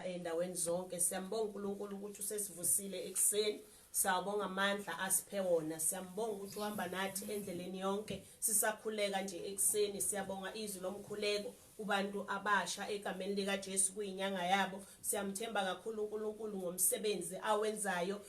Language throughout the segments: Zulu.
endaweni zonke siyambonga uNkulunkulu ukuthi usesivusile ekuseni sawabonga amandla asiphe wona siyambonga ukuthi uhamba nathi endleleni yonke sisakhuleka nje ekuseni siyabonga izwi lomkhuleko kubantu abasha egameni likaJesu kuyinyanga yabo siyamthemba kakhulu uNkulunkulu ngomsebenzi awenzayo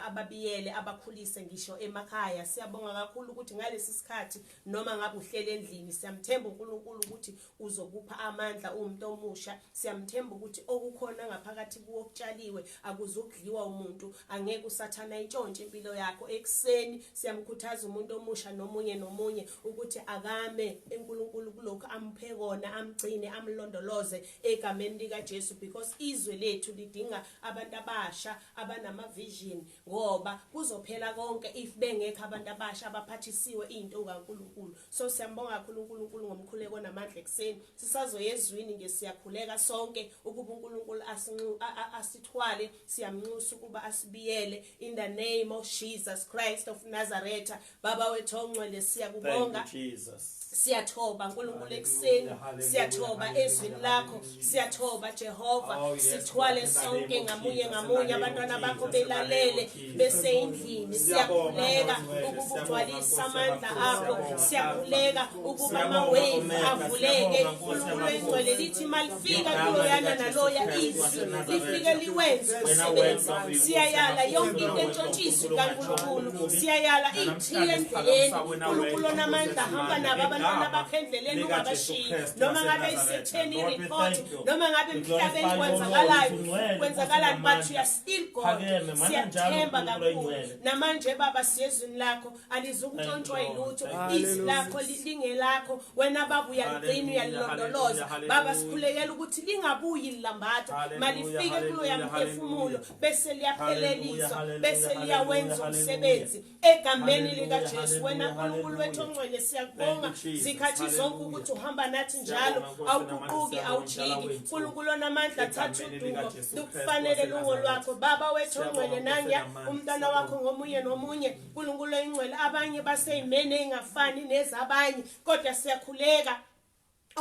ababiyele abakhulise ngisho emakhaya siyabonga kakhulu ukuthi ngalesi sikhathi noma ngabe uhlele endlini siyamthemba uNkulunkulu ukuthi Uzokupha amandla uwumuntu omusha. Siyamthemba ukuthi okukhona ngaphakathi kuwo okutshaliwe akuzukudliwa umuntu. Angeke usathana intshontshe impilo yakho. Ekuseni siyamkhuthaza umuntu omusha nomunye nomunye ukuthi akame eNkulunkulu kulokho amuphe kona, amgcine, amlondoloze egameni lika Jesu because izwe lethu lidinga abantu abasha abanama vision ngoba kuzophela konke if bengekho abantu abasha abaphathisiwe into kaNkulunkulu. so siyambonga kakhulu uNkulunkulu ngomkhuleko namandla ekseni sisazoya ezwini nje siyakhuleka sonke ukuba uNkulunkulu asinxu asithwale siyamnxusa ukuba asibiyele in the name of Jesus Christ of Nazareth baba wethu ongcwele siyakubonga Jesus siyathoba uNkulunkulu ekseni siyathoba ezwini lakho siyathoba jehova oh, sithwale sonke ngamunye ngamunye abantwana bakho belalele beseyindlini siyakhuleka ukuba ugcwalise amandla akho siyakhuleka ukuba amawevu avuleke unkulunkulu engcwele lithi malifika kuloyana naloya izwi lifike liwenze umsebenzi siyayala yonke into entshontshisi kankulunkulu siyayala iyithiye endleleni unkulunkulu onamandla hamba nabo abantwana bakho endleleni ungabashiyi noma ngabe isetheni ireport noma ngabe emhlabeni kwenzakalayo kwenzakalani but you are still god siyathemba kakhulu namanje baba siyezwini lakho alizukuntshontshwa yilutho izwi lakho lingelakho wena baba uyaligcina uyalilondoloza baba sikhulekela ukuthi lingabuyi lilambatho malifike kuloya mphefumulo bese liyaphelelisa bese liyawenza umsebenzi egameni likaJesu wena Nkulunkulu wethu ongcwele siyakubonga zikhathi zonke ukuthi uhamba nathi njalo awuguquki awujiki Nkulunkulu onamandla thatha udumo lukufanele lungo lwakho baba wethu ongcwele nanya umntana wakho ngomunye nomunye Nkulunkulu oyingcwele abanye baseyimene engafani nezabanye kodwa siyakhuleka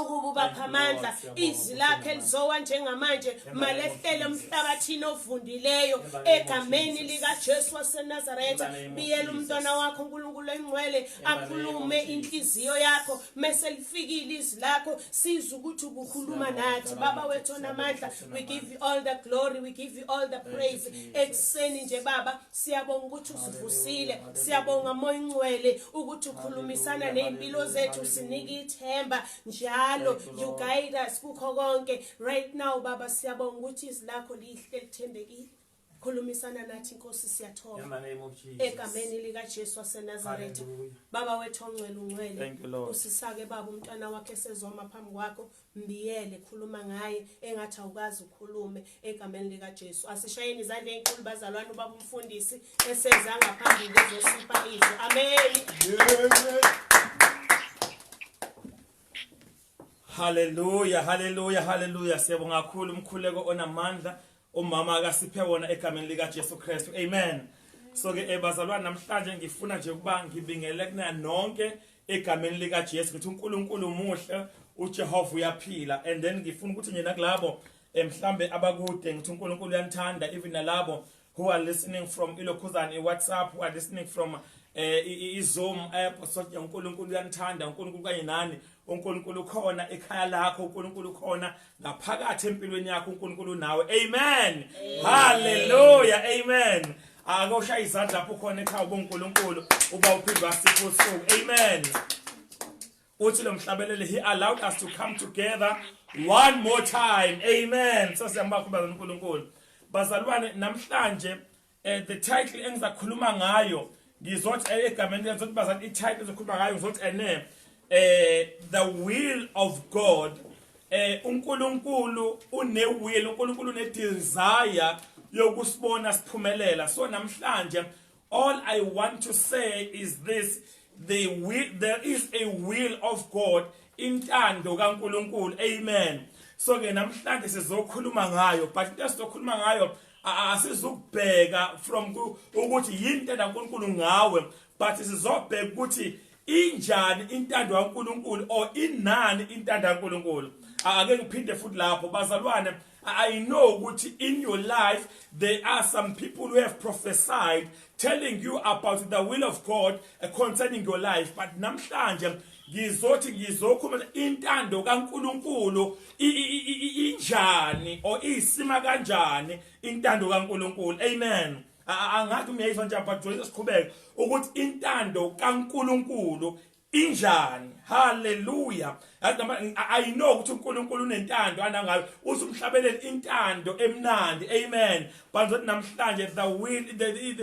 ukuba ubapha amandla izwi lakhe lizowa njengamanje malehlele emhlabathini ovundileyo egameni likaJesu waseNazaretha biyela umntwana wakho uNkulunkulu engcwele akhulume inhliziyo yakho mese lifikile izwi lakho sizwe ukuthi ukukhuluma nathi baba wethu onamandla we give you all the glory we give you all the praise ekuseni nje baba Siyabonga ukuthi usivusile. Siyabonga moya ingcwele ukuthi ukhulumisana nezimpilo zethu sinike ithemba njalo you guide us kukho konke. Right now baba siyabonga ukuthi izwi lakho lihle lithembekile. khulumisana nathi inkosi siyathoba egameni likaJesu waseNazaretha baba wethu ongcwele ungcwele usisake baba umntwana wakhe sezoma phambi kwakho Mbiyele khuluma ngaye engathi awukazi ukhulume egameni lika Jesu asishayeni izandla enkulu bazalwane ubaba umfundisi eseza ngaphambi kuzosipha izwi amen Hallelujah hallelujah hallelujah siyabonga kakhulu umkhuleko onamandla Umama akasiphe wona egameni lika Jesu Kristu. Amen. So ke eh, bazalwane namhlanje ngifuna nje ukuba ngibingele kuna nonke egameni lika Jesu ukuthi uNkulunkulu umuhle, uJehova uyaphila and then ngifuna ukuthi nje nakulabo eh, mhlambe abakude ngithi uNkulunkulu uyanithanda even nalabo who are listening from ilokhuzane iWhatsApp who are listening from eh iZoom app so uNkulunkulu uyanithanda uNkulunkulu kanye nani uNkulunkulu khona ekhaya lakho uNkulunkulu khona ngaphakathi empilweni yakho uNkulunkulu nawe amen haleluya amen akoshaya izandla lapho khona ekhaya ubuNkulunkulu uba uphinde wasipha usuku amen uthi lo mhlabeleli he allowed us to come together one more time amen sasiyambakho baza uNkulunkulu bazalwane namhlanje eh, the title engizakhuluma ngayo ngizothi eh, egameni ngizothi bazali i-title ezokhuluma ngayo ngizothi ene eh, eh the will of god eh uNkulunkulu une will uNkulunkulu une desire yokusibona siphumelela so namhlanje all i want to say is this They will, there is a will of God intando kaNkuluNkulu amen so ke namhlanje sizokhuluma ngayo but into esizokhuluma ngayo asizukubheka from ukuthi yini intando kaNkuluNkulu ngawe but sizobheka ukuthi injani intando kaNkuluNkulu or inani intando kaNkuluNkulu ake ngiphinde futhi lapho bazalwane I know ukuthi in your life there are some people who have prophesied telling you about the will of God eh, concerning your life but namhlanje ngizothi ngizokhuluma intando kaNkuluNkulu injani or isima kanjani intando kaNkuluNkulu amen angathi umyayizwa nje but joyce siqhubeke ukuthi intando kaNkuluNkulu injani haleluya i know ukuthi uNkulunkulu unentando anangayo usumhlabelele intando emnandi amen bantu namhlanje the will the,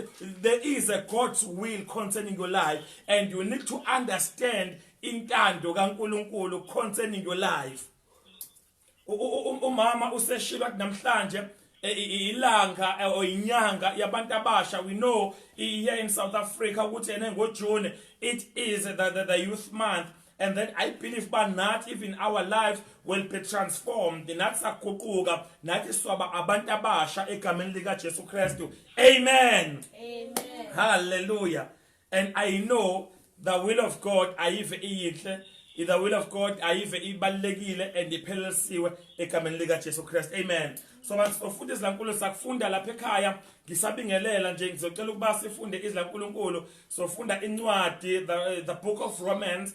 there is a god's will concerning your life and you need to understand intando kaNkulunkulu concerning your life umama useshilo athi namhlanje e, ilanga e, or inyanga yabantu abasha we know here in South Africa ukuthi ene ngoJune it is the, the, the youth month and then i believe ba nathi even our lives will be transformed nathi saguquka nathi swaba abantu abasha egameni lika Jesu Kristu amen amen hallelujah and i know the will of god ayive iyinhle the will of god ayive ibalekile and iphelelisiwe egameni lika Jesu Christ amen so masizofuthi izilankulunkulu sakufunda lapha ekhaya ngisabingelela nje ngizocela ukuba sifunde izilankulunkulu sofunda incwadi the, the book of romans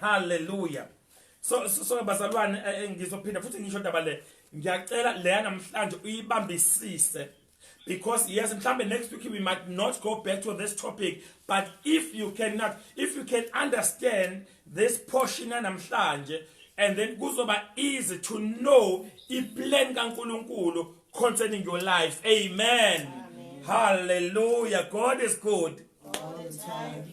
haleluya so so, so bazalwane eh, eh, ngizophinda futhi ngisho ndaba le ngiyacela leya namhlanje uyibambisise because yes mhlambe next week we might not go back to this topic but if you cannot if you can understand this portion namhlanje and then kuzoba easy to know iplan kaNkuluNkulu concerning your life amen, amen. hallelujah god is good all the time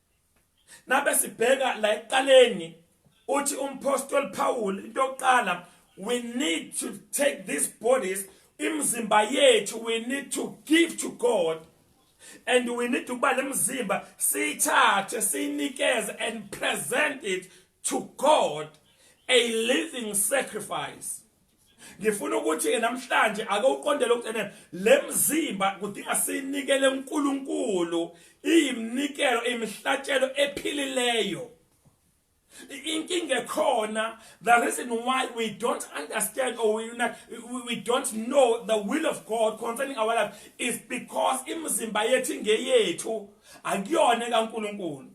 Nabe sibheka la eqaleni uthi umpostoli Paul into yokuqala we need to take these bodies imizimba yethu we need to give to God and we need to buy lemzimba siyithathe siyinikeze and present it to God a living sacrifice ngifuna ukuthi ke namhlanje ake uqondele ukuthi ene lemzimba kudinga sinikele uNkulunkulu iyimnikelo imihlatshelo ephilileyo inkinga ekhona the reason why we don't understand or we, not, we, we don't know the will of god concerning our life is because imizimba yethu ingeyethu akuyona kaNkuluNkulu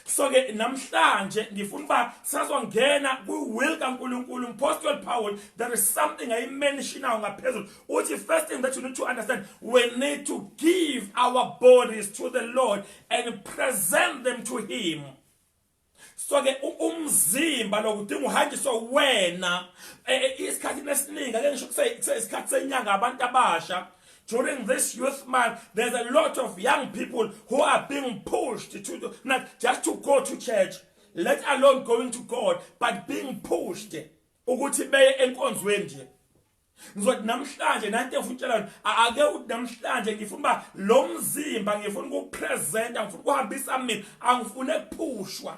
so ke namhlanje ngifuna uba sazongena kwi-will kankulunkulu mpostle paul there is something ayimenishinayo ngaphezulu uthi first thing that you need to understand we need to give our bodies to the lord and present them to him so ke umzimba lokudinga uhanjiswe wena e, e, isikhathi esiningi ake ngisho kuseyisikhathi senyanga abantu abasha during this youth month, there's a lot of young people who are being pushed to do, not just to go to church, let alone going to God, but being pushed ukuthi beye enkonzweni nje ngizothi namhlanje nanti efutshelana ake uthi namhlanje ngifuna uba lo mzimba ngifuna ukupresenta ngifuna ukuhambisa mina angifune kuphushwa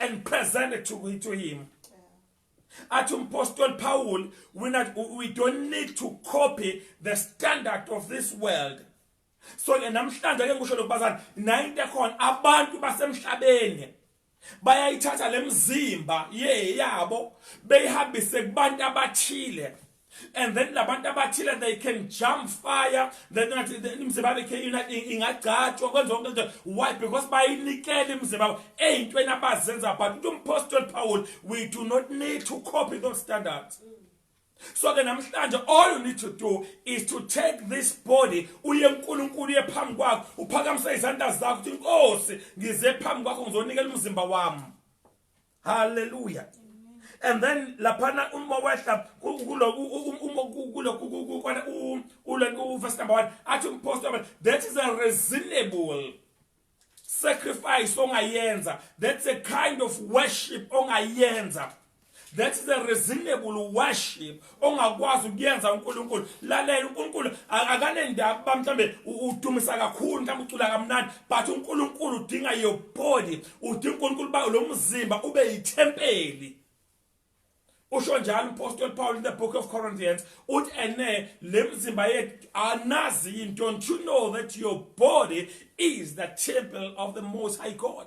and present it to, to him athi umpostoli paul we, not, we don't need to copy the standard of this world so ke namhlanje ke ngisho lokubazana nayinto ekhona abantu basemhlabeni bayayithatha lemzimba ye yabo beyihambise kubantu abathile and then labantu abathile they can jump fire then ngathi imizimba yabo ikhe ingagcatshwa kwenza konke nje why because bayinikele imizimba yabo eyintweni abazenza but uthi umpostoli paul we do not need to copy those standards so ke namhlanje all you need to do is to take this body uye uNkulunkulu uye phambi kwakhe uphakamise izandla zakho uthi inkosi ngize phambi kwakho ngizonikela umzimba wami haleluya and then laphana uma wehla kulokuverse number one athi umphostoli that is a reasonable sacrifice ongayenza that's a kind of worship ongayenza that is a reasonable worship ongakwazi ukuyenza uNkulunkulu lalela uNkulunkulu akanendaba kuba mhlambe udumisa kakhulu mhlambe ucula kamnandi but uNkulunkulu udinga your body udinga uNkulunkulu ba lo mzimba ube yithempeli usho njalo umpostoli Paul in the book of Corinthians uthi ene lemzimba yethu anazi yini don't you know that your body is the temple of the most high God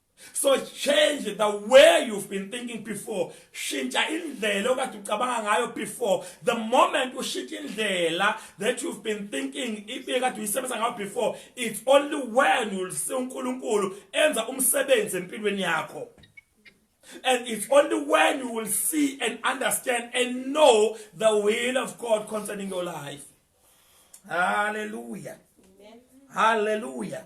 So change the way you've been thinking before. Shintsha indlela okade ucabanga ngayo before. The moment ushintsha indlela that you've been thinking ibekade uyisebenza ngayo before, it's only when you'll see uNkulunkulu enza umsebenzi empilweni yakho. And it's only when you will see and understand and know the will of God concerning your life. Hallelujah. Amen. Hallelujah.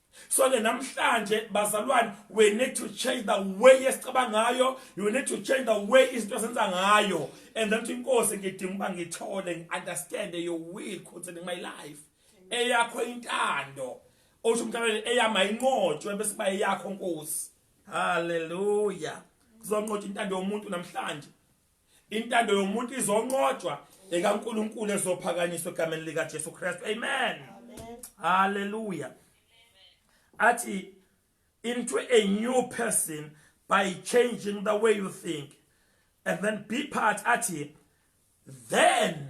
so ke namhlanje bazalwane we need to change the way esicaba ngayo you need to change the way izinto esenza ngayo and then inkosi ngidinga uba ngithole ngi-understand your will concerning my life eyakho intando osho umntaneni eyama inqotshwe bese kuba eyakho nkosi haleluya kuzonqotshwa intando yomuntu namhlanje Intando yomuntu izonqotshwa ekaNkulunkulu ezophakanyiswa egameni lika Jesu Kristu. Amen. Hallelujah. Athi into a new person by changing the way you think and then be part athi then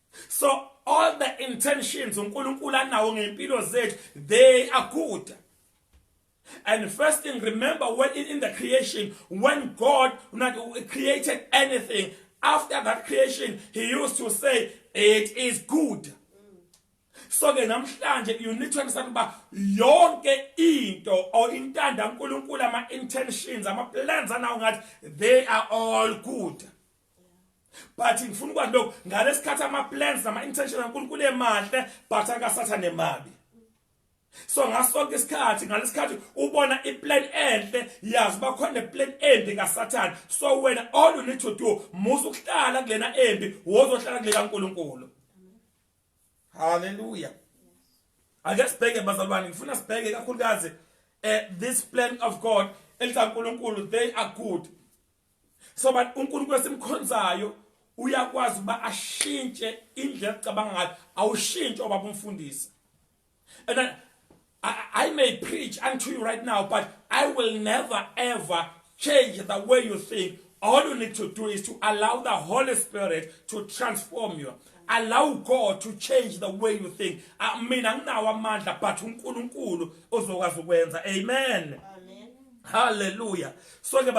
so all the intentions uNkulunkulu anawo ngempilo zethu they are good and first thing remember when in, in the creation when God not created anything after that creation he used to say it is good so ke namhlanje you need to understand uba yonke into or intanda uNkulunkulu ama intentions ama plans anawo ngathi they are all good but ngifuna ukwazi lokho ngalesikhathi ama plans nama intention kaNkulunkulu emahle but akasathane mabi so ngasonke isikhathi ngalesikhathi ubona iplan enhle yazi bakhona plan embi kaSathane so wena all you need to do musa ukuhlala kulena embi wozohlala kulela uNkulunkulu haleluya ake sibheke bazalwane ngifuna sibheke kakhulukazi eh this plan of God elitha uNkulunkulu they are good so but uNkulunkulu esimkhonzayo uyakwazi ukuba ashintshe indlela ecabanga ngayo awushintshe obaba umfundisi and I, I, I may preach unto you right now but I will never ever change the way you think all you need to do is to allow the Holy Spirit to transform you allow God to change the way you think ah, mina nginawo amandla but uNkulunkulu ozokwazi ukwenza amen amen hallelujah so ke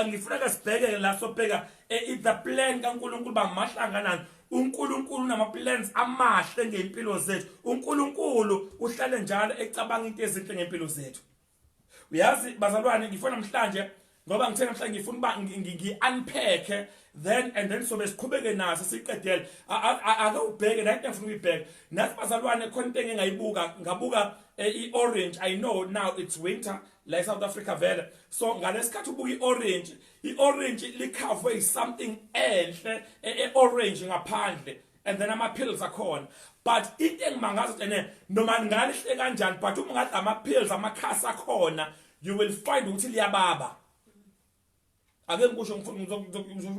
ngifuna ke sibheke la sobheka eh, the plan kaNkulunkulu bamahlanganani uNkulunkulu unamaplans amahle ngempilo zethu uNkulunkulu uhlale njalo ecabanga into ezinhle ngempilo zethu uyazi bazalwane ngifuna namhlanje ngoba ngithe namhlanje ngifuna uba ngi-unpacke then and then sobe siqhubeke naso siqedele ake ubheke nayo into engifuna ukuyibheka nathi bazalwane khona into engingayibuka ngabuka eh, i-orange i know now it's winter la eSouth Africa vele so ngalesikhathi ubuka iorange iorange likhavwe is something enhle eorange e, ngaphandle and then ama pills akhona but into engimangaza ukuthi ene noma ngalihle kanjani but uma ngadla ama pills amakhasi akhona you will find ukuthi liyababa ake ngikusho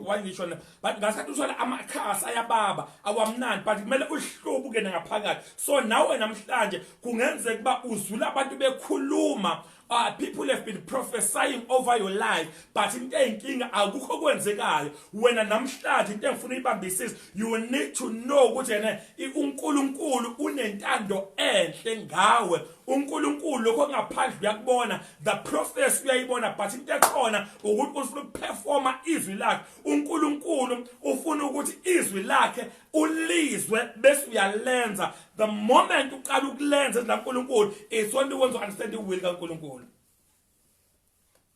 why ngisho na but ngasikhathi usola amakhasi ayababa awamnandi but kumele uhlubuke ngaphakathi so nawe namhlanje kungenzeka ukuba uzula abantu bekhuluma Uh, people have been prophesying over your life but into eyinkinga akukho kwenzekayo wena namhlanje into engifuna ibambisise you need to know ukuthi yena uNkulunkulu unentando enhle ngawe uNkulunkulu lokho okungaphandle uyakubona the process uyayibona but into ekhona ukuthi ufuna ukuperforma izwi lakhe uNkulunkulu ufuna ukuthi izwi lakhe ulizwe bese uyalenza the moment uqala ukulenza la uNkulunkulu isona ukwenza understand iwill kaNkulunkulu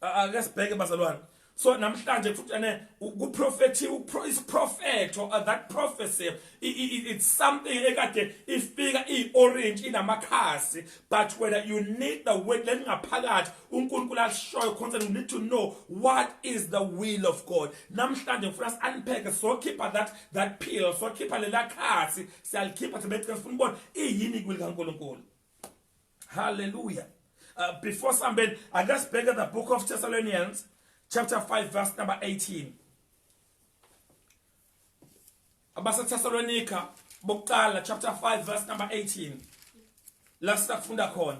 ake sibheke bazalwane so namhlanje futhi ene ukuprofethi isiprofetho uh, that prophecy it's something ekade ifika iorange inamakhasi but whether you need the word lelingaphakathi uNkulunkulu ashoyo concerning you need to know what is the will of God namhlanje ngifuna siunpack so keep that that pill so keep lelakhasi siyalikhipha sibethi sifuna ubona iyini kwilikaNkulunkulu Hallelujah. Uh, before somebody, I just beg at the book of Thessalonians, chapter 5, verse number 18. Abasa Thessalonica, Bokala, chapter 5, verse number 18. Last funda khona.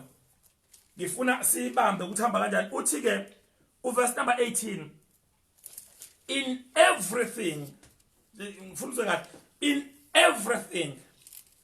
Ngifuna siyibambe ukuthi hamba kanjani. Uthi ke uverse number 18 in everything ngifuna uzwe ngathi in everything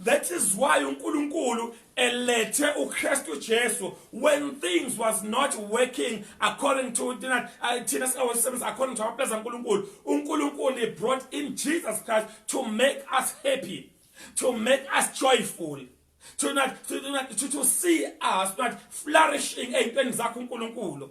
That is why uNkulunkulu elethe uKristu Jesu when things was not working according to thina uh, thina singawasebenza according to amaplans kaNkulunkulu uNkulunkulu he brought in Jesus Christ to make us happy to make us joyful to not to, to, to, to see us not flourishing eyintweni zakho uNkulunkulu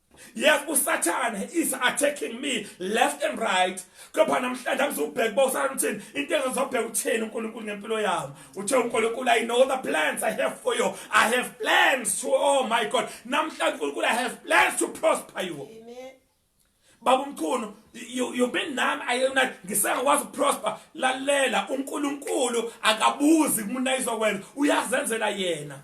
yes usathane is attacking me left and right kepha namhlanje angizubheka uba usathane uthini into engizobheka uthini unkulunkulu ngempilo yami uthe unkulunkulu i know the plans i have for you i have plans to oh my god namhlanje unkulunkulu i have plans to prosper you Amen. baba umkhulu you've been nami ayona ngisengakwazi ukuprosper lalela unkulunkulu akabuzi kumuntu ayizokwenza uyazenzela yena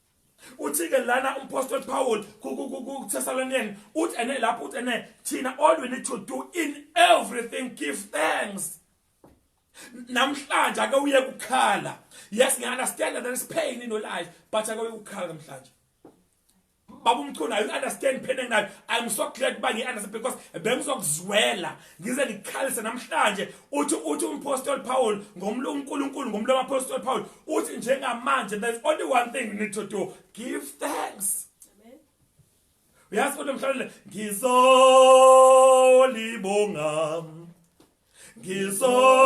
uthike lana umphostoli Paul kuThessalonian uthi ene lapho uthi ene thina all we need to do in everything give thanks namhlanje ake uye kukhala yes ngiya understand that there is pain in your life but ake uye kukhala namhlanje baba umchunu i understand pain enginayo i'm so glad uba ngi understand because bengizokuzwela ngize ngikhalise namhlanje uthi uthi umpostoli Paul ngomlo uNkulunkulu ngomlo wapostoli Paul uthi njengamanje there's only one thing you need to do give thanks uyazi kodwa mhlawumbe ngizolibonga ngizolibonga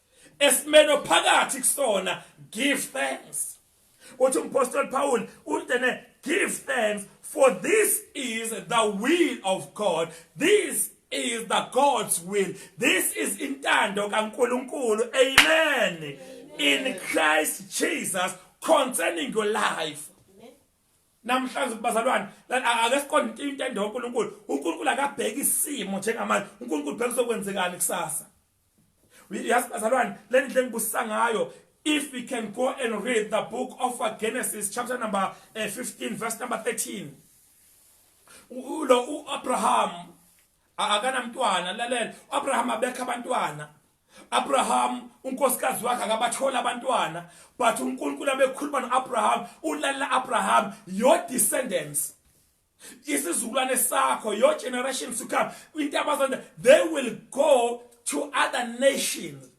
esimeni ophakathi kusona give thanks uthi umpostoli Paul untene give thanks for this is the will of God this is the God's will this is intando kaNkuluNkulu amen in Christ Jesus concerning your life namhlanje kubazalwane ake siqonde intando kaNkuluNkulu uNkulunkulu akabheki isimo njengamanje uNkulunkulu bheka sokwenzekani kusasa Yazi bazalwane le ndlela engibusisa ngayo if we can go and read the book of uh, Genesis chapter number uh, 15 verse number 13 ulo uAbraham akanamntwana lalela uAbraham abekha abantwana Abraham unkosikazi wakhe akabathola abantwana but uNkulunkulu abekhuluma noAbraham ulala Abraham your descendants isizukulwane sakho your generation to come into abazanda they will go to other nations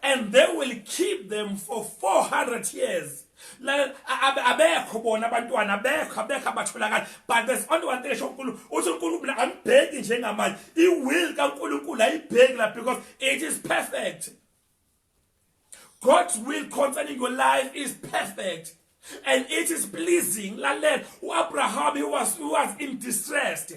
and they will keep them for 400 years abekho bona abantwana abekho abekho abatholakala but there's only one thing esho uNkulunkulu uthi uNkulunkulu angibheki njengamanje i will kaNkulunkulu ayibheki la because it is perfect God's will concerning your life is perfect and it is pleasing lalela uAbraham he was he was in distress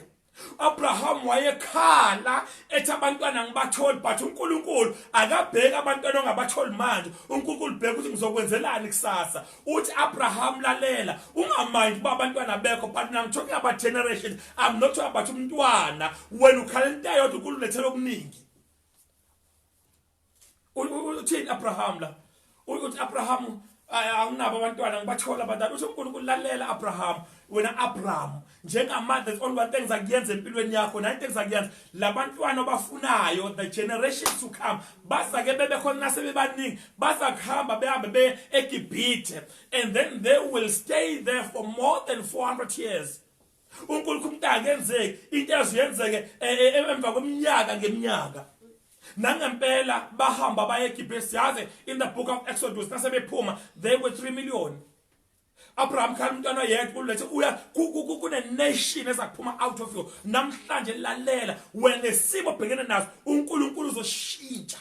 Abraham wayekhala ethi abantwana ngibatholi but uNkulunkulu akabheki abantwana ongabatholi manje uNkulunkulu bheka ukuthi ngizokwenzelani kusasa uthi Abraham lalela ungamind uba abantwana bekho but I'm talking about generations I'm not talking about umntwana wena ukhala into yodwa uNkulunkulu lethela okuningi uthini Abraham la uthi Abraham anginabo abantwana ngibathola abantwana uthi uNkulunkulu lalela Abraham wena Abraham njengamanje there's only one thing zakuyenza empilweni yakho nine things zakuyenza labantwana obafunayo the generations to come bazake bebe khona nasebebaningi bazakuhamba behambe be eGibhithe and then they will stay there for more than 400 years uNkulunkulu umuntu angenzeki into eziyenzeke e, e, e, emva kweminyaka ngeminyaka nangempela bahamba baye eGibhithe siyazi in the book of Exodus nasebephuma they were 3 million Abraham khala umntwana yedwa ulethe uya kune nation ezakuphuma out of you namhlanje lalela wena nesimo bhekene naso uNkulunkulu uzoshintsha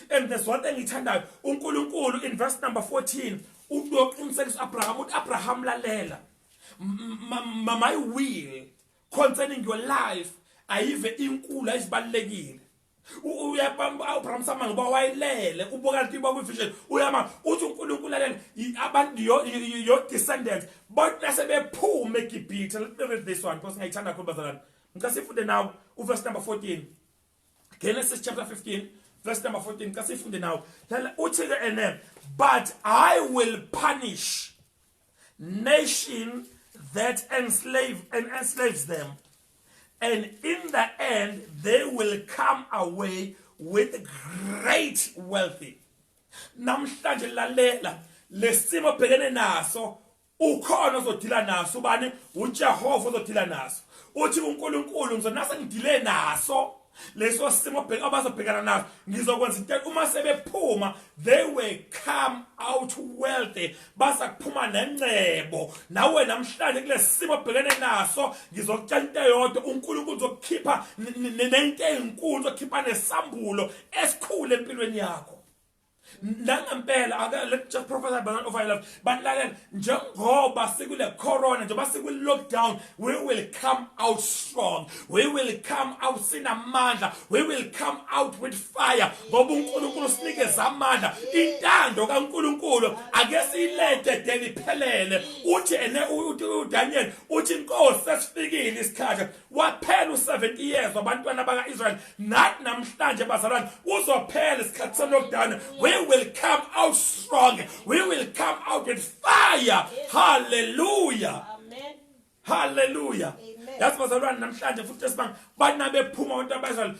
and there's one thing ngithandayo uNkulunkulu in verse number 14 uqinisekisa uAbraham uthi Abraham lalela my will concerning your life ayive inkulu ayizibalekile uyabamba uAbraham sama ngoba wayilele ubuka lithi baku vision uyama uthi uNkulunkulu lalela abantu your, your descendants bonke sebephuma eGibhithe let me read this one because ngiyithanda kakhulu bazalwane ngicela sifunde nawo uverse number 14 Genesis chapter 15 verse number 14 xa siyifunde nawo lala uthi ke ene but i will punish nation that enslave and enslaves them and in the end they will come away with great wealthy namhlanje lalela lesimo bhekene naso ukhona ozodila naso ubani uJehova ozodila naso uthi uNkulunkulu ngizonase ngidile naso leso simo bheka abazobhekana naso ngizokwenza into uma sebephuma they will come out wealthy basa kuphuma nencebo nawe namhlanje kulesimo bhekene naso ngizokutshela into eyodwa uNkulunkulu uzokukhipha nento ezinkulu uzokhipha nesambulo esikhulu empilweni yakho nangempela ake let just prophesy by over your life but lalela njengoba sikule corona njengoba sikwi lockdown we will come out strong we will come out sinamandla we will come out with fire ngoba uNkulunkulu sinikeza amandla intando kaNkulunkulu ake siyilethe deliphelele uthi ene uDaniel uthi inkosi sesifikile isikhathi waphela u-70 years wabantwana baka-israyeli nathi namhlanje bazalwane uzophela isikhathi sami lokudana we will come out strong we will come out with fire halleluya halleluya yazi bazalwane namhlanje futhi esibanga banabephuma abantu abayizalo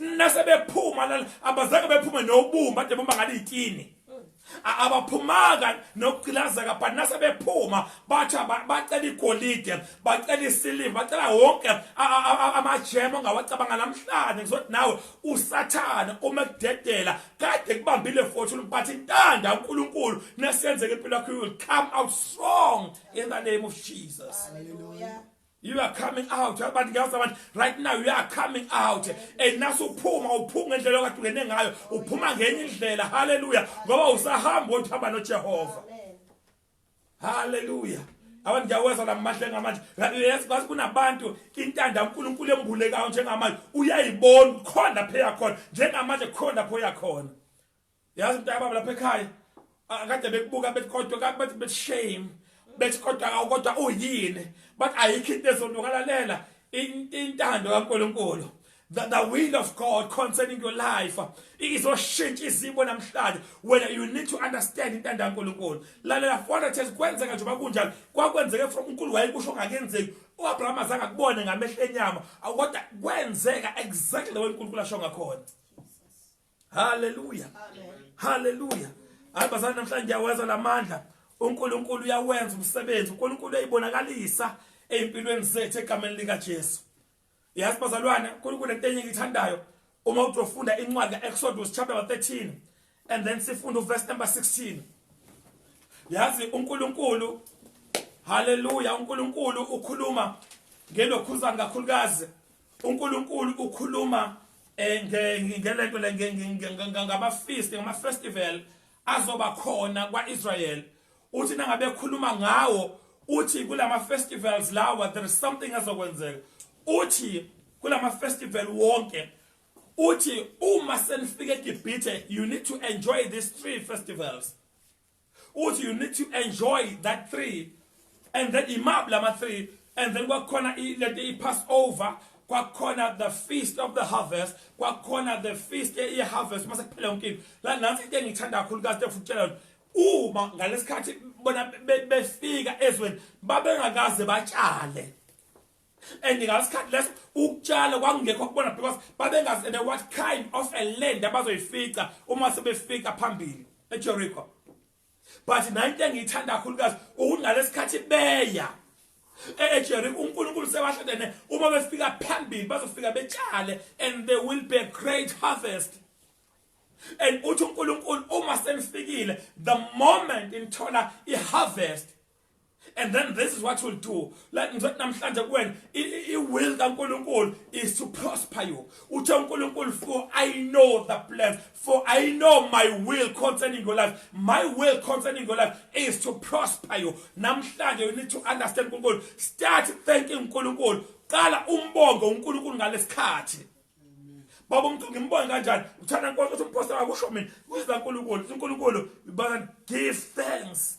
nase bephuma la abazange bephume nobumba ade bomba ngale itini abaphumaka nokucilazeka but nase bephuma batha bacela igolide bacela isiliva bacela wonke amajemu ongawacabanga namhlanje ngizothi nawe usathane uma kudedela kade kubambile futhi ulibathi intanda uNkulunkulu nesenzeke impilo yakho you will come out strong in the name of Jesus hallelujah You are coming out. Abantu ngiyazi abantu right now you are coming out. And naso uphuma uphuma ngendlela okade ungene ngayo. Uphuma ngenye indlela. Hallelujah. Ngoba usahamba uthi hamba noJehova. Hallelujah. abantu ngiyawezwa lamahle ngamanje yes kwazi kunabantu intanda uNkulunkulu embulekayo njengamanje uyayibona khona lapha yakhona njengamanje khona lapho yakhona yazi mntakababa lapha ekhaya akade bekubuka bethi kodwa kade bathi bethi shame bethi kodwa awukodwa uyini bathi ayikho into ezonokalalela intando kaNkulunkulu that the will of God concerning your life izoshintsha izimo namhlanje wena you need to understand intando kaNkulunkulu lalela fona thes kwenzeka nje bakunjalo kwakwenzeke from uNkulunkulu wayekusho ngakenzeki uAbraham azange akubone ngamehlo enyama kodwa kwenzeka exactly the way uNkulunkulu asho ngakhona haleluya haleluya hayi bazali namhlanje ngiyawezwa la mandla unkulunkulu uyawenza umsebenzi unkulunkulu uyayibonakalisa ey'mpilweni zethu egameni likajesu yazi bazalwane unkulunkulu into enye engiyithandayo uma uthi ufunda incwadi ka-exodus chapter 13 and then sifunda uverse number 16 yazi unkulunkulu haleluya unkulunkulu ukhuluma ngelokhuzane kakhulukazi uNkulunkulu ukhuluma eh, ngelento le ngamafeast ngamafestival azoba khona kwaIsrael uthi nangabe khuluma ngawo uthi kulama festivals lawa there is something azokwenzeka uthi kulama festival wonke uthi uma senifike eGibhithe you need to enjoy these three festivals uthi you need to enjoy that three and then imab lama three and then kwakhona lento i-pass over kwakhona the feast of the harvest kwakhona the feast ye-harvest uma sekuphela yonke into la nansi into engiyithanda kakhulu kazi tekufutshela uma ngalesikhathi bona befika ezweni babengakaze batshale and ngasikhathi leso ukutshala kwakungekho kubona because babengazi and what kind of a land abazoyifica uma sebefika phambili eJericho but nayinto engiyithanda kakhulukazi ukunalesikhathi beya eJericho eh, eh, uNkulunkulu sebahledene uma befika phambili bazofika betshale and there will be a great harvest and uthi uNkulunkulu uma senifikile the moment inthola iharvest and then this is what will do like ngizothi namhlanje kuwena i-will kankulunkulu is to prosper you uthe unkulunkulu for i know the plans for i know my will concerning your life my will concerning your life is to prosper you namhlanje you need to understand unkulunkulu start thanking unkulunkulu qala umbonge unkulunkulu ngalesikhathi baba umuntu ngimbone kanjani uthanda nkonke ukuthi umphostela akusho mina kuyizwa unkulunkulu unkulunkulu but give thanks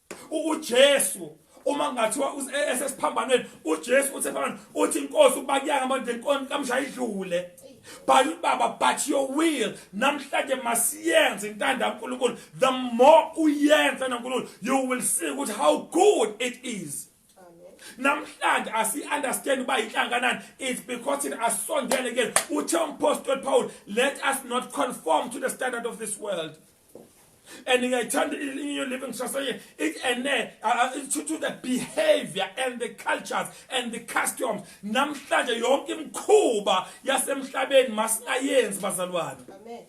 uJesu uma ngathiwa e-, esesiphambanweni uJesu uthe phambana uthi inkosi ukuba kuyanga manje inkosi kamshaya idlule bhala ubaba but your will namhlanje masiyenze intanda uNkulunkulu the more uyenza noNkulunkulu you will see ukuthi how good it is namhlanje asi-understand uba yinhlanganani it's because thina asisondele kuyena uthe umpostoli paul let us not conform to the standard of this world and ngiyayithanda inyo living society it and uh, to, to the behavior and the cultures and the customs namhlanje yonke imkhuba yasemhlabeni masingayenzi bazalwane amen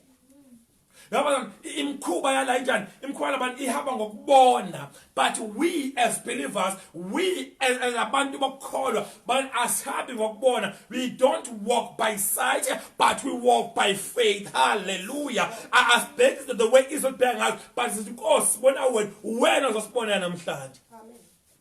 yabona imkhuba yala injani imkhuba labantu ihamba ngokubona but we as believers we as, as abantu bokukholwa but asihambi ngokubona we don't walk by sight but we walk by faith hallelujah asibheki the way izobheka ngayo but sithi nkosi bona wena wena uzosibonela namhlanje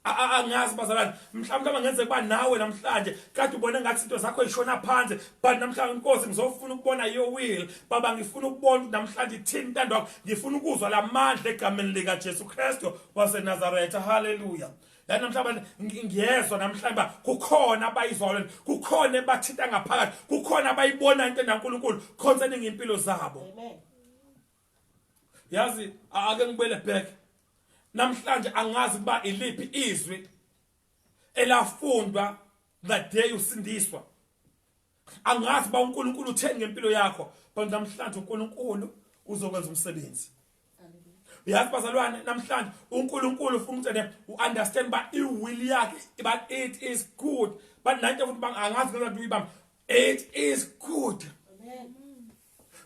angazi bazalwane mhlawumbe aba ngenzeka uba nawe namhlanje kade ubone ngathi izinto zakho yishona phansi but namhlanje inkosi ngizofuna ukubona your will baba ngifuna ukubona namhlanje ithini intando yakho ngifuna ukuzwa lamandla egameni lika Jesu Kristo waseNazaretha hallelujah la namhlanje ngiyezwa namhlanje ba kukhona abayizwalo kukhona ebathinta ngaphakathi kukhona abayibona into naNkulunkulu concerning impilo zabo amen yazi ake ngibele back namhlanje angazi kuba iliphi izwi elafundwa that day usindiswa angazi ba uNkulunkulu utheni ngempilo yakho but namhlanje uNkulunkulu uzokwenza umsebenzi uyazi bazalwane namhlanje uNkulunkulu ufuna ukuthi ne uunderstand ba iwill yakhe but it is good but nanto futhi bangazi ngeke uyibamba it is good amen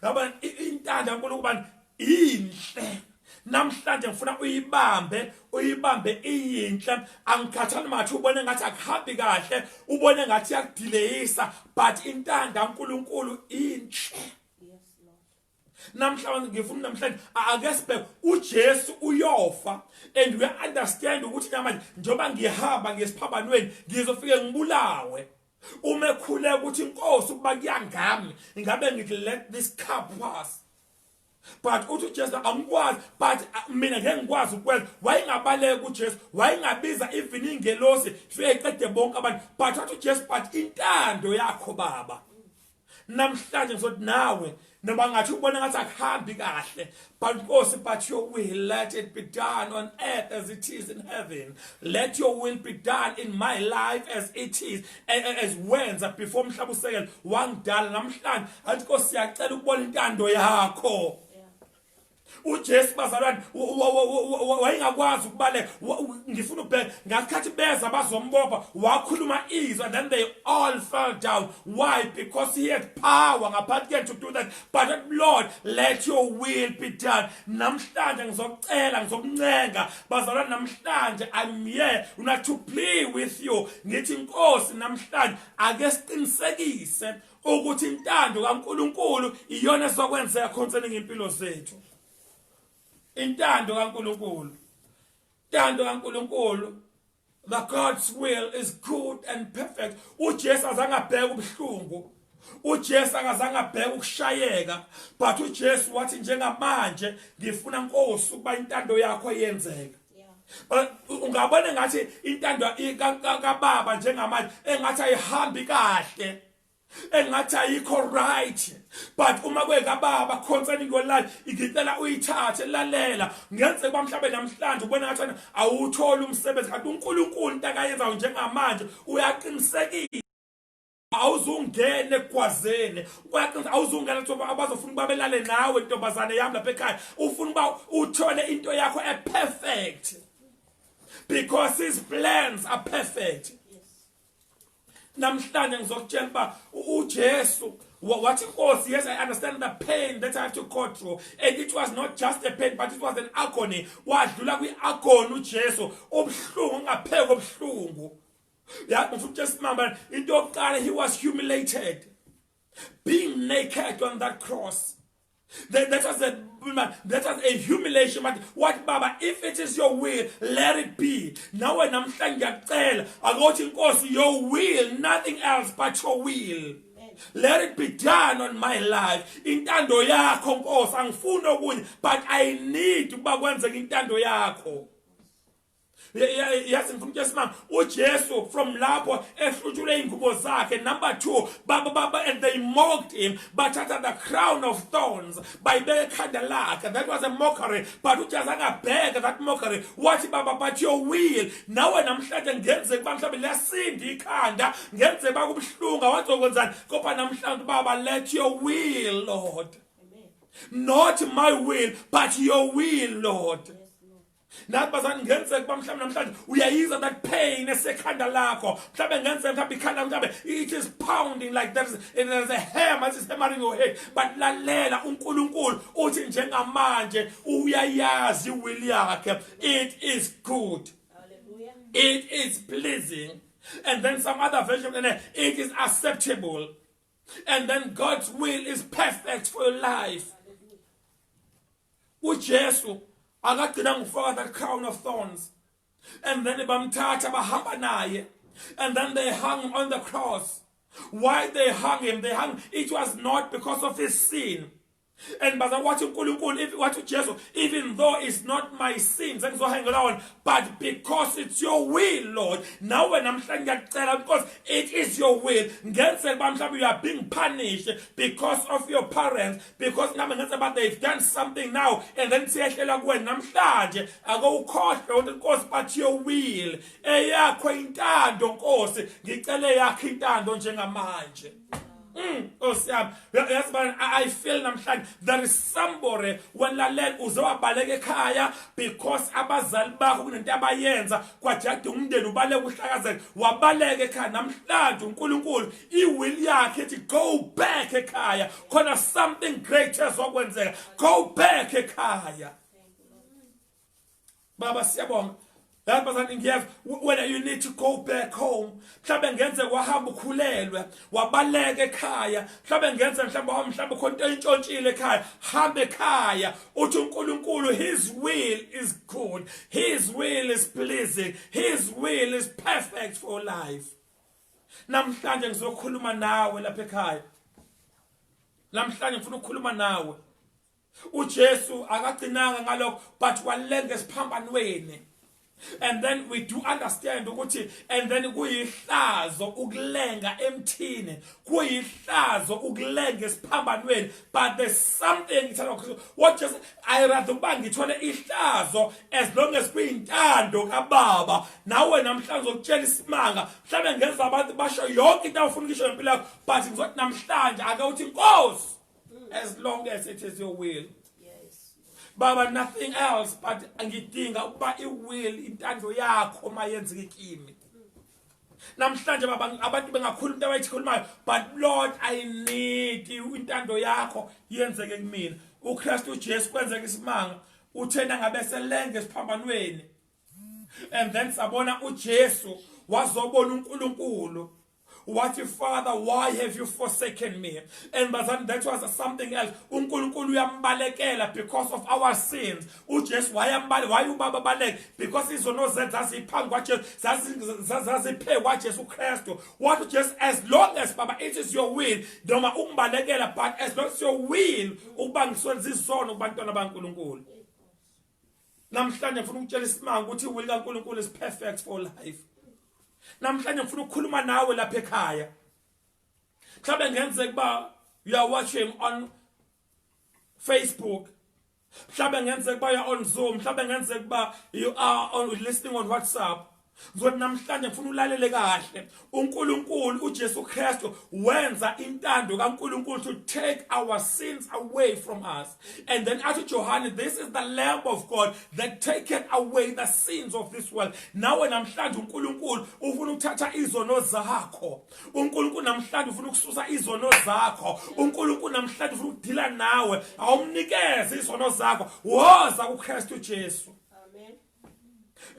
Yabona intando yaNkulunkulu ubani inhle namhlanje ngifuna uyibambe uyibambe iyinhle angikhathali mathi ubone ngathi akuhambi kahle ubone ngathi yakudileyisa but intando kaNkuluNkulu inhle namhlanje ngifuna namhlanje ake sibheke uJesu uyofa and we understand ukuthi namanje njengoba ngihamba ngesiphambanweni ngizofike ngibulawe uma ekhuleka ukuthi inkosi ukuba kuyangami ingabe ngithi let this cup pass but uthi uJesu angikwazi but uh, mina ngeke ngikwazi ukwenza wayengabaleka uJesu wayengabiza even ingelosi fike qede bonke abantu but wathi uJesu but intando yakho baba namhlanje ngizothi nawe noma ngathi ubona ngathi akuhambi kahle but nkosi but your will let it be done on earth as it is in heaven let your will be done in my life as it is as wenza before umhlaba usekela wangidala namhlanje athi nkosi siyacela ukubona intando yakho uJesu bazalwane wayengakwazi ukubaleka ngifuna ubheke ngasikhathi beza bazombopha wakhuluma izwi and then they all fell down why because he had power ngaphansi kuyena to do that but lord let your will be done namhlanje ngizokucela ngizokuncenga bazalwane namhlanje i'm here not to play with you ngithi inkosi namhlanje ake siqinisekise ukuthi intando kaNkuluNkulu iyona ezokwenzeka concerning impilo zethu intando kaNkuluNkulu intando kaNkuluNkulu the God's will is good and perfect uJesu azangabheka ubuhlungu uJesu akazange abheke ukushayeka but uJesu wathi njengamanje ngifuna Nkosi ukuba intando yakho yenzeke ungabona ngathi intando kababa njengamanje engathi ayihambi kahle engathi ayikho right but uma kwekababa concerning your life ngicela uyithathe lalela ngenzeka bamhlabe namhlanje ubona ngathi awutholi umsebenzi kanti uNkulunkulu into akayenzayo njengamanje uyaqinisekile awuzungene ekwazeni kwaqinisa awuzungene thoba abazofuna uba belale nawe ntombazane yami lapha ekhaya ufuna uba uthole into yakho eperfect because his plans are perfect namhlanje ngizokutshela uba ujesu What it was, yes, I understand the pain that I have to go through. And it was not just a pain, but it was an agony. Wadlula kwi-agony uJesu, ubuhlungu ungapheka ubuhlungu. yazi futhi esimama into yokuqala he was humiliated being naked on that cross that, that was a that was a humiliation but what baba if it is your will let it be nawe namhlanje ngiyakucela akothi inkosi your will nothing else but your will let it be done on my life intando yakho nkosi angifuni okunye but i need ukuba kwenzeke intando yakho yazi ngifuna ukuthi simama uJesu from lapho ehlutshule ingubo zakhe number 2 baba baba and they mocked him bathatha the crown of thorns bayibeka ekhanda lakhe that was a mockery but uJesu akabheka that mockery wathi baba but your will nawe namhlanje ngenze kuba mhlawumbe liyasinda ikhanda ngenze bakubuhlunga wazokwenzani kodwa namhlanje baba let your will lord not my will but your will lord nathi bazani kungenzeka ukuba mhlawumbe namhlanje uyayizwa that pain esekhanda lakho mhlawumbe kungenzeka mhlawumbe ikhanda mhlawumbe it is pounding like there is, there is a hammer it is hammering your head but lalela unkulunkulu uthi njengamanje uyayazi will yakhe it is good it is pleasing and then some other version and it is acceptable and then god's will is perfect for your life uJesu akagcina ngokufaka that crown of thorns and then bamthatha bahamba naye and then they hung on the cross why they hung him they hung it was not because of his sin and baza wathi uNkulunkulu if wathi uJesu even though it's not my sins engizohangela wona but because it's your will Lord nawe namhlanje ngiyacela because it is your will ngenzeka bamhlawumbe you are being punished because of your parents because nami ngenza but they've done something now and then siyehlela kuwena namhlanje ake ukhohlwe ukuthi inkosi but your will eyakho intando nkosi ngicele yakhe intando njengamanje Mm, osiyami yazi bani i feel namhlanje there is somebody walalela uze wabaleka ekhaya because abazali bakho kunento abayenza kwajada umndeni ubaleka uhlakazeke wabaleka ekhaya namhlanje uNkulunkulu iwill yakhe ethi go back ekhaya khona something great ezokwenzeka go back ekhaya baba siyabonga lapha sani ngiyeza wena you need to go back home mhlawumbe ngenze wahamba ukhulelwe wabaleka ekhaya mhlawumbe ngenze mhlawumbe wahamba mhlawumbe khona into entshontshile ekhaya hamba ekhaya uthi uNkulunkulu his will is good his will is pleasing his will is perfect for life namhlanje ngizokhuluma nawe lapha ekhaya namhlanje ngifuna ukukhuluma nawe uJesu akagcinanga ngalokho but walenga esiphambanweni and then we do understand ukuthi and then kuyihlazo ukulenga emthini kuyihlazo ukulenga esiphambanweni but there's something ngithanda ukuthi what just I rather ukuba ngithole ihlazo as long as kuyintando kababa nawe namhlanje ukutshela isimanga mhlawumbe ngenza abantu basho yonke into awufuna ukisho ngempilo yakho but ngizothi namhlanje ake uthi inkosi as long as it is your will baba nothing else but ngidinga ukuba iwill intando yakho mayenzeke kimi namhlanje baba abantu bengakhulu into abayikhulumayo but lord i need intando yakho yenzeke kumina uKristu Jesu kwenzeka isimanga uthena ngabe selenge siphambanweni and then sabona uJesu wazobona uNkulunkulu wathi father why have you forsaken me and bazani that was something else uNkulunkulu uyambalekela because of our sins uJesu wayambali wayubaba baleke because izono zethu zaziphambi kwaJesu zaziphe kwaJesu Kristu what uJesu as long as baba it is your will noma ungibalekela but as long as your will ukuba ngiswenza izono kubantwana baNkuluNkulu namhlanje ngifuna ukutshela isimanga ukuthi will kaNkuluNkulu is perfect for life namhlanje ngifuna ukukhuluma nawe lapha ekhaya mhlawumbe ngenzeka uba you are watching on Facebook mhlawumbe ngenzeka uba you're on zoom mhlawumbe ngenzeka uba you are on listening on whatsapp ngizothi namhlanje ngifuna ulalele kahle uNkulunkulu uJesu Kristu wenza intando kaNkulunkulu to take our sins away from us and then athi Johane this is the lamb of God that taketh away the sins of this world nawe namhlanje uNkulunkulu ufuna ukuthatha izono zakho uNkulunkulu namhlanje ufuna ukususa izono zakho uNkulunkulu namhlanje ufuna ukudila nawe awumnikeze izono zakho woza kuKristu Jesu amen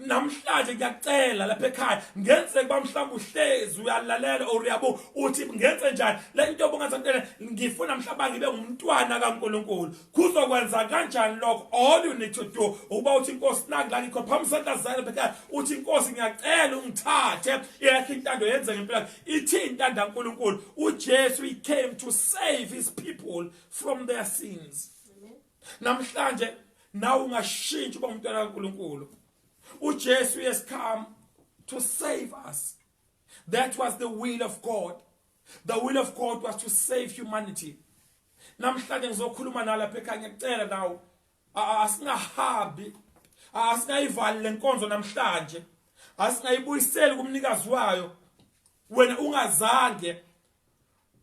namhlanje ngiyacela lapha ekhaya ngenzeke kuba mhlawumbe uhlezi uyalalela or uyabo uthi ngenze njani le nto obungathi ngifuna mhlawumbe ngibe ngumntwana kaNkuluNkulu kuzokwenza kanjani lokho all you need to do ukuba uthi inkosi nangilani khona phambi sentazana phela uthi inkosi ngiyacela ungithathe yakhe intando yenze ngempela ithi intando kaNkuluNkulu uJesu he came to save his people from their sins namhlanje nawe ungashintsha uba umntwana kaNkuluNkulu uJesu has come to save us that was the will of God the will of God was to save humanity namhlanje ngizokhuluma nala phekha ngiyacela nawo asingahambi asingayivali lenkonzo namhlanje asingayibuyiseli kumnikazi wayo wena ungazange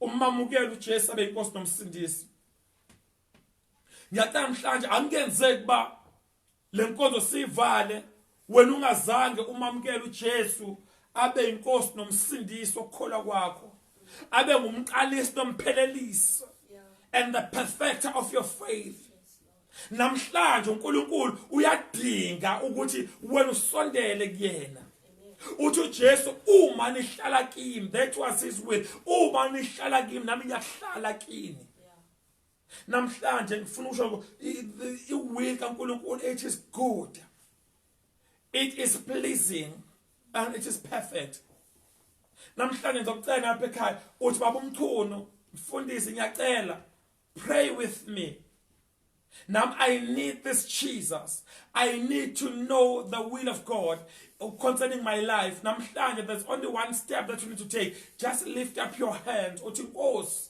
umamukele uJesu abe inkosi nomsindisi ngiyacela namhlanje angenzeki ba Le nkonzo siyivale wena ungazange umamukele uJesu abe inkosi nomsindisi okukholwa kwakho abe ngumqalisi nomphelelisi and the perfecter of your faith namhlanje uNkulunkulu uyadinga ukuthi wena usondele kuyena uthi uJesu uma nihlala kimi that was his will uma nihlala kimi nami ngiyahlala kini namhlanje ngifuna ukusho iwill kaNkulunkulu it is good it is pleasing and it is perfect namhlanje ngizocela ngapha ekhaya uthi baba umchunu mfundisi ngiyacela pray with me Now I need this Jesus. I need to know the will of God concerning my life. Namhlanje there's only one step that you need to take. Just lift up your hands. Uthi Nkosi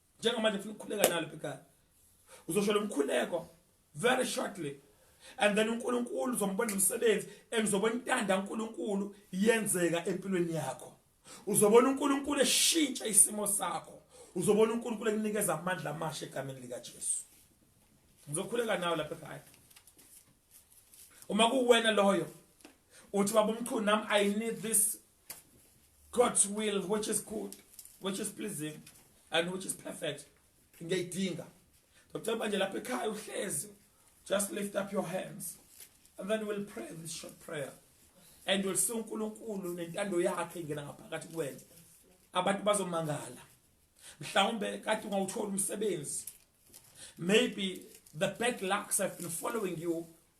njengamanje ngifuna ukukhuleka nalo phekani uzosho lo mkhuleko very shortly and then uNkulunkulu uzombona umsebenzi engizobona intanda uNkulunkulu yenzeka empilweni yakho uzobona uNkulunkulu eshintsha isimo sakho uzobona uNkulunkulu ekunikeza amandla amasha egameni lika Jesu ngizokhuleka nawe lapha ekhaya uma kuwena loyo uthi baba umchunu nami i need this God's will which is good which is pleasing and which is perfect ngiyayidinga Dr manje lapha ekhaya uhlezi just lift up your hands and then we'll pray this short prayer and we'll see uNkulunkulu nentando yakhe ingena ngaphakathi kuwena abantu bazomangala mhlawumbe kade ungawuthola umsebenzi maybe the bad lucks have been following you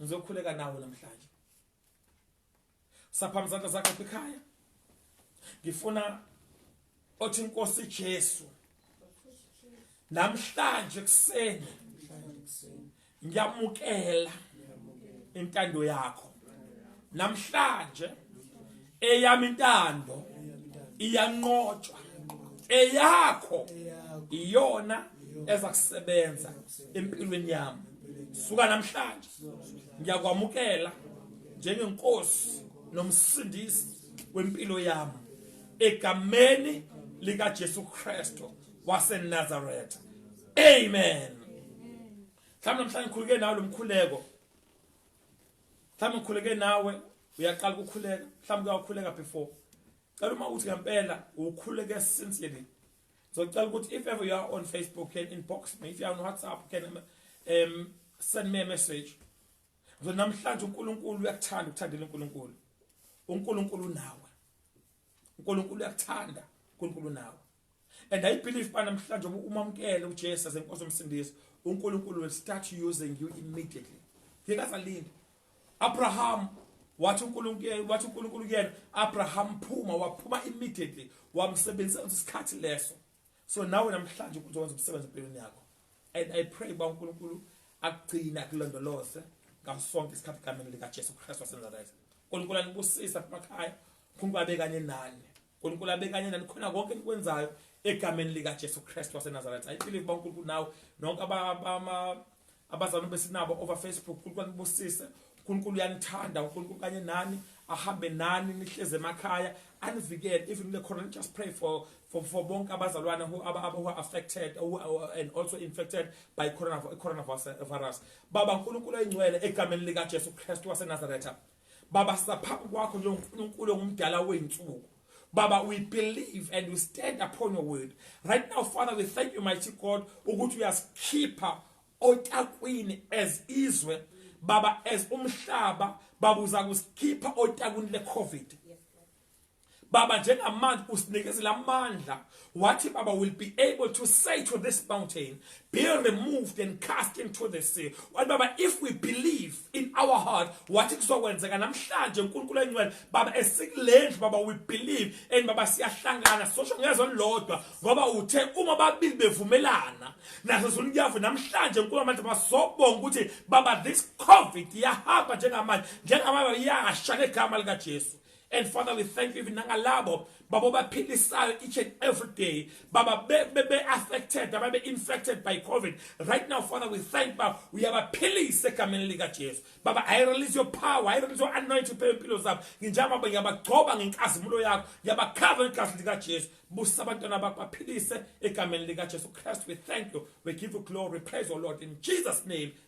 ngizokhuleka nawe namhlanje saphama izandla zakho lapha ekhaya ngifuna othi inkosi Jesu namhlanje kuseni ngiyamukela intando yakho namhlanje eyami intando iyanqotshwa eyakho iyona eza kusebenza empilweni yami suka namhlanje ngiyakwamukela njengenkosi nomsindisi wempilo yami egameni lika Jesu Kristo waseNazareth amen mhlawumbe namhlanje ngikhuluke nawe lomkhuleko mhlawumbe ukhuleke nawe uyaqala ukukhuleka mhlawumbe uyakhuleka before cela uma uthi ngempela ukhuleke sincerely so cela ukuthi if ever you are on facebook can inbox me if you are on whatsapp can um send me a message so namhlanje uNkulunkulu uyakuthanda ukuthandela uNkulunkulu uNkulunkulu nawe uNkulunkulu uyakuthanda uNkulunkulu nawe and i believe ba namhlanje uma umamkele uJesu senkosi umsindisi uNkulunkulu will start using you immediately ngikazalinda Abraham wathi uNkulunkulu wathi uNkulunkulu kuyena Abraham phuma waphuma immediately wamsebenzisa isikhathi leso so nawe namhlanje ukuthi wenza umsebenzi empilweni yakho and i pray uba unkulunkulu akugcine akulondoloze ngaso sonke isikhathi egameni likajesu kristu wasenazareth unkulunkulu anibusisa kumakhaya unkulunkulu abe kanye nani unkulunkulu abe kanye nani khona konke enikwenzayo egameni likajesu kristu wasenazareth i believe uba unkulunkulu nawe nonke abazalwane besinabo over facebook unkulunkulu anibusise unkulunkulu uyanithanda unkulunkulu kanye nani ahambe nani nihleze emakhaya anivikele even kule corona just pray for for for bonke abazalwane who aba aba who are affected who are, and also infected by corona coronavirus baba uNkulunkulu oyingcwele egameni lika Jesu Kristu waseNazaretha Baba saphambi kwakho njengoNkulunkulu ongumdala wey'nsuku Baba, we believe and we stand upon your word. Right now, Father, we thank you, mighty God, ukuthi uyasikhipha otakwini as izwe baba as umhlaba baba uza kusikhipha otakwini le-covid Baba njengamanje usinikezela amandla wathi baba will be able to say to this mountain be removed and cast into the sea wathi baba if we believe in our heart wathi kuzokwenzeka namhlanje uNkulunkulu engcwele baba esikulendlu baba we believe and baba siyahlangana sosho ngezwe lodwa ngoba uthe uma babili bevumelana naso zunyavu namhlanje uNkulunkulu amandla basobonga ukuthi baba this covid yahamba njengamanje njengamanje yasha ngegama lika Jesu And Father, we thank you even nangalabo babo baphilisayo each and every day. Baba be, be, be affected, baba be infected by COVID. Right now, Father, we thank Baba. We are philise egameni lika Jesu. Baba, I release your power. I release your anointing phezu impilo zabo. Nginjama baba ngiyabagcoba ngenkazimulo yakho. Ngiyabakhava ngegazi lika Jesu. Busa abantwana bakho baphilise egameni lika Jesu Christ. We thank you. We give you glory. Praise the Lord in Jesus name.